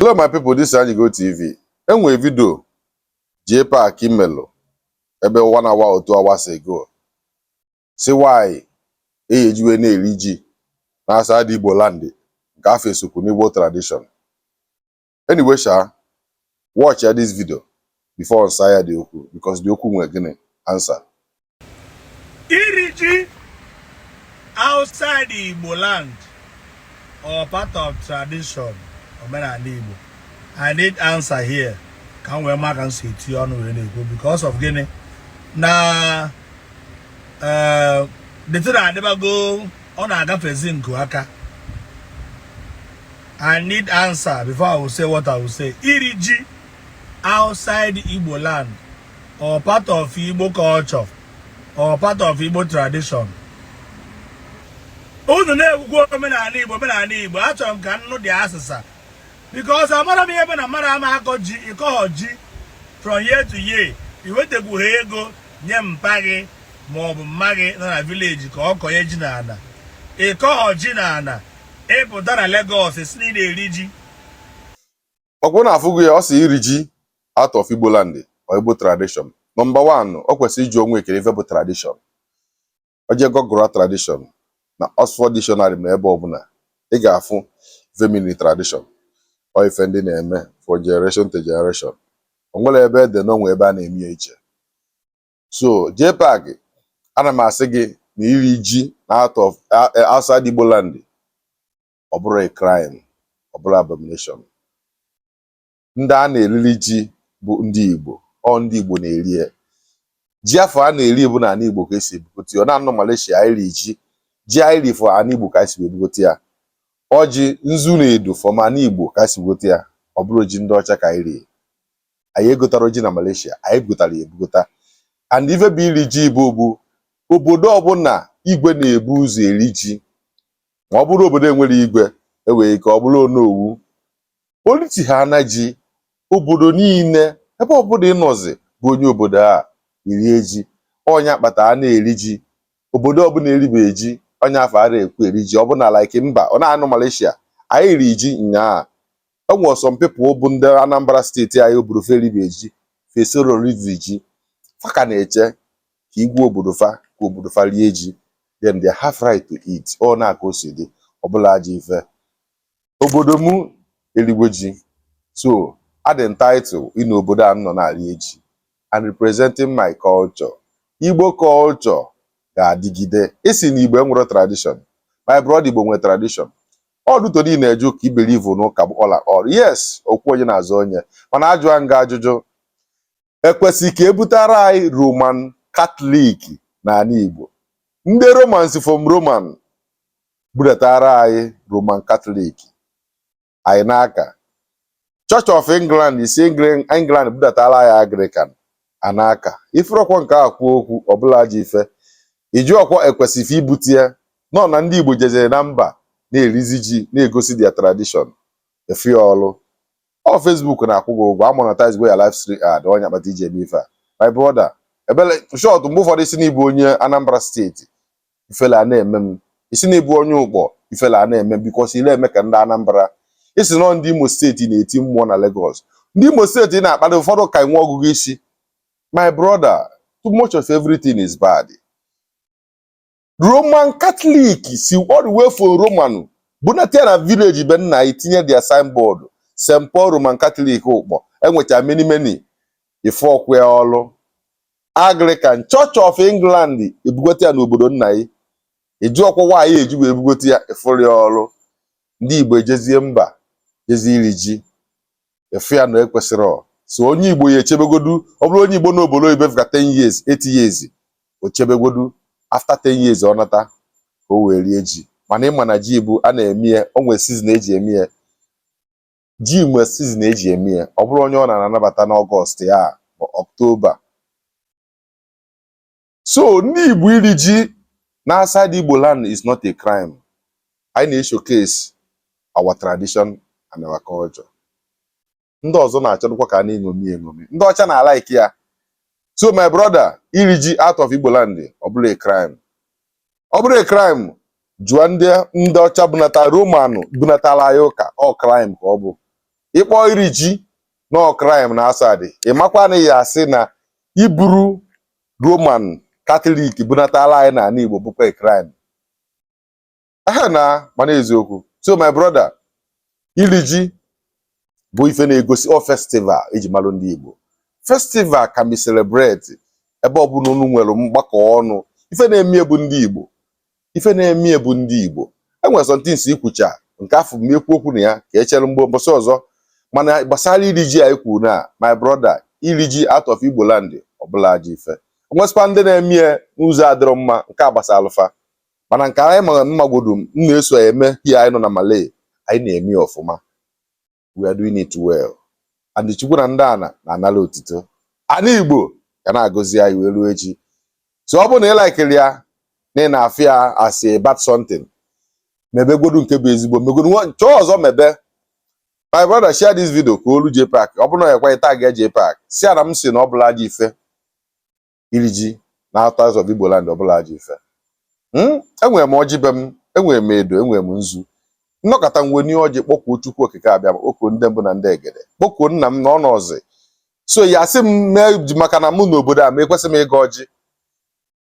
Hello my people, this is Anyigo TV. Enwere vidio JPAC melụ ebe one hour or two hours ago sị why anyị ejiwe na-eri ji na outside Igbo land nke afọ esokwu n'Igbo tradition. Anyway sha, watchịa this video before m saa ya the okwu because the okwu nwere gịnị answer. iri ji outside Igbo land ọ part of tradition omenala Igbo I need answer here ka m wee ma ka m si eti ọnụ wee na-ekwu because of gịnị na eh, the thing adịbago ọ na-agafezi nku aka I need answer before I will say what I will say iri ji outside Igbo land ọ part of Igbo culture ọ part of Igbo tradition unu na-ekwukwa omenala Igbo omenala Igbo achọrọ m ka m nụ the asịsa because amara m ihe ebe na mmadụ ama akọ ji ịkọghọ ji from year to year iwetekwughị ego nye mpa gị ma ọ bụ mma gị nọ na village ka ọ kọnye ji na ana ịkọghọ ji na ana ị pụta na Lagos sị na ị na-eri ji ọkwa unu afụgo ya ọ sị iri ji out of Igbo land ọ Igbo tradition number one o kwesịrị ịjụ onwe kedụ ife bụ tradition o jee Google tradition na Oxford dictionary ma ebe ọbụla ị ga-afụ ife mean tradition ọ ife ndị na-eme from generation to generation o nwere ebe ede na o nwe ebe a na-eme ya iche so JPAC ana m asị gị na iri ji na out of outside Igbo land ọ bụrọ a crime ọ bụrọ abomination ndị a na-eriri ji bụ ndị Igbo ọ ndị Igbo na-eri ya ji afọ a na-eri bụ na ala Igbo ka esi ebugote ya ọ na-anọ Malaysia iri ji ji iri from ala Igbo ka esi ebugote ya ọjị nzu na edo from ala Igbo ka esi ebugote ya ọ bụrọ ji ndị ọcha ka anyị rie anyị egotarọ ji na Malaysia anyị bugotara ya ebugota and ife bụ iri ji bụ obodo ọbụla igwe na-ebu ụzọ eri ji ma ọ bụrụ obodo enwerọ igwe enwere ike ọ bụrụ onowu politi ha na ji obodo niile ebe ọbụla ị nọzi bụ onye obodo a i rie ji ọ nya kpata a na-eri ji obodo ọbụla eribeghị ji onye afọ ara ekwu eri ji ọbụna like mba ọ na-anọ Malaysia anyị ri ji nyaa enwere some people bụ ndị Anambra State anyị obodo fa eribeghị ji fa esorọ rive ji fa ka na-eche ka igwe obodo fa ka obodo fa rie ji then they have right to eat ọ na-aka o si dị ọ bụrọ ajọ ife obodo m eligo ji so adị m entitled ịnọ obodo a nọ na-eri ji and representing my culture igbo culture ga-adịgide ị sị na igbo enwerọ tradition my brother igbo nwere tradition ọ dị etu ị na-eje ụka i believe n'ụka bụ ọla ọrụ yes okwu onye na-azọ onye mana ajụa m gị ajụjụ ekwesị ka ebutara anyị Roman Katọlik n'ala Igbo ndị Roman si from Roman budatara anyị Roman Katọlik anyị na-aka Church of England e si England budatara anyị Anglican a na-aka ị fụrọkwọ nke a kwuo okwu ọ bụrọ ajọ ife ị jụrọkwọ ekwesịghị ibute ya nọ na ndị Igbo jezere na mba na-erizi ji na-egosi their tradition ị fụ ọlụ ọ Facebook na-akwụ gị ụgwọ amonetize go ya live stream ad ọ nya kpata i ji eme ife a my brother ebele short mgbe ụfọdụ ị sị na ị bụ onye Anambra steeti ifele a na-eme m ị sị na ị bụ onye ụkpọ ifele a na-eme m because ile eme ka ndị Anambra ị sị na ọ ndị Imo steeti na-eti mmụọ na Lagos ndị Imo steeti ị na-akpali ụfọdụ ka enwe ọgụgụ isi my brother too much of everything is bad roman katọlik si all the way from roman bunata ya na village be nna anyị tinye their signboard st paul roman katọlik ụkpọ enwecha many many ị fụrọkwa ya ọlụ anglican church of england ebugote ya n'obodo nna anyị ị jụrọkwọ why eji wee bugote ya ị fụrọ ya ọlụ ndị igbo ejezie mba jezie iri ji ị fụ ya na ekwesịrọ so onye igbo ga-echebegodu ọ bụrụ onye igbo nọ obodo oyibo ife ka 10 years 8 years o chebegodu after 10 years ọ nata ka o wee rie ji mana ịma na ji bụ a na-eme ya o nwere season eji eme ya ji nwere season eji eme ya ọ bụrọ onye ọbụna na-anabata n'ọgọst ya ma ọktoba so ndị Igbo iri ji na outside Igbo land is not a crime anyị na-eshowcase our tradition and our culture ndị ọzọ na-achọdụkwa ka a na-eṅomi eṅomi ndị ọcha na-alike ya so my brother iri ji out of Igbo land ọ bụrọ a crime ọ bụrụ a crime jụọ ndị ndị ọcha bunata roman bunatara anyị ụka ọ crime ka ọ bụ ị kpọ iri ji na ọ crime na outside ị makwa na a ya-asị na iburu Roman Katọlik bunatala anyị n'ala Igbo bụkwa crime aha na mana eziokwu so my brother iri ji bụ ife na-egosi ọ festival eji malụ ndị Igbo festival can be celebrate ebe ọbụla unu nwere mgbakọ ọnụ ife na-eme bụ ndị Igbo ife na-eme ya bụ ndị Igbo e nwere some things ikwucha nke afụ m ekwu okwu na ya ka e chere mgbe mbọsị ọzọ mana gbasara iri ji anyị kwuru na my brother iri ji out of Igbo land ọ bụrọ ajọ ife e nwesịkwa ndị na-eme ya n'ụzọ adịrọ mma nke a gbasaalụ fa mana nke anyị mara m magodu m na-eso eme here anyị nọ na Malay anyị na-eme ya ọfụma we are doing it well and Chukwu na ndị ana na-anala otito ana Igbo ga na-agọzi anyị wee ruo echi so ọ bụrụ na ị likerọ ya na ị na-afụ ya as a bad something mebegodu nke bụ ezigbo megodu chọọ ọzọ mebe my brother share this video ka o luo JPAC ọ bụrụ na ọ ya-ekwe gị tag ya JPAC sị ya na m sị na ọ bụrọ ajọ ife iri ji na out of Igbo Land ọ bụrọ ajọ ife hmm? enwere m ọjị be m enwere m edo enwere m nzu m nọkata m wenie ọjị kpọkuo Chukwu Okike Abịama kpọkuo ndị mbụ na ndị egede kpọkuo nna m na ọ nọọzi so ị ya-asị m mee maka na mụ nọ obodo a ma ekwesị m ịgọ ọjị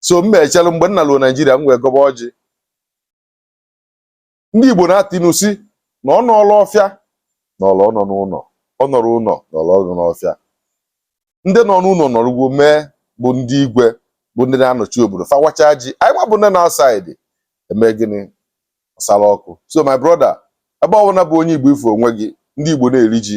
so mụ echelu mgbe m naluo Naijiria m wee gọba ọjị ndị Igbo na-atụ inu sị na ọ nọrọ ọfịa nọrọ ọnọ n'ụnọ ọ nọrọ ụnọ nọrọ ọnọ n'ọfịa ndị nọ n'ụnọ nọrụgo mee bụ ndị igwe bụ ndị na-anọchi obodo fa wacha ji anyị nwa bụ ndị nọ outside eme gịnị ọsara ọkụ so my brother ebe ọbụla bụ onye Igbo ị fụ onwe gị ndị Igbo na-eri ji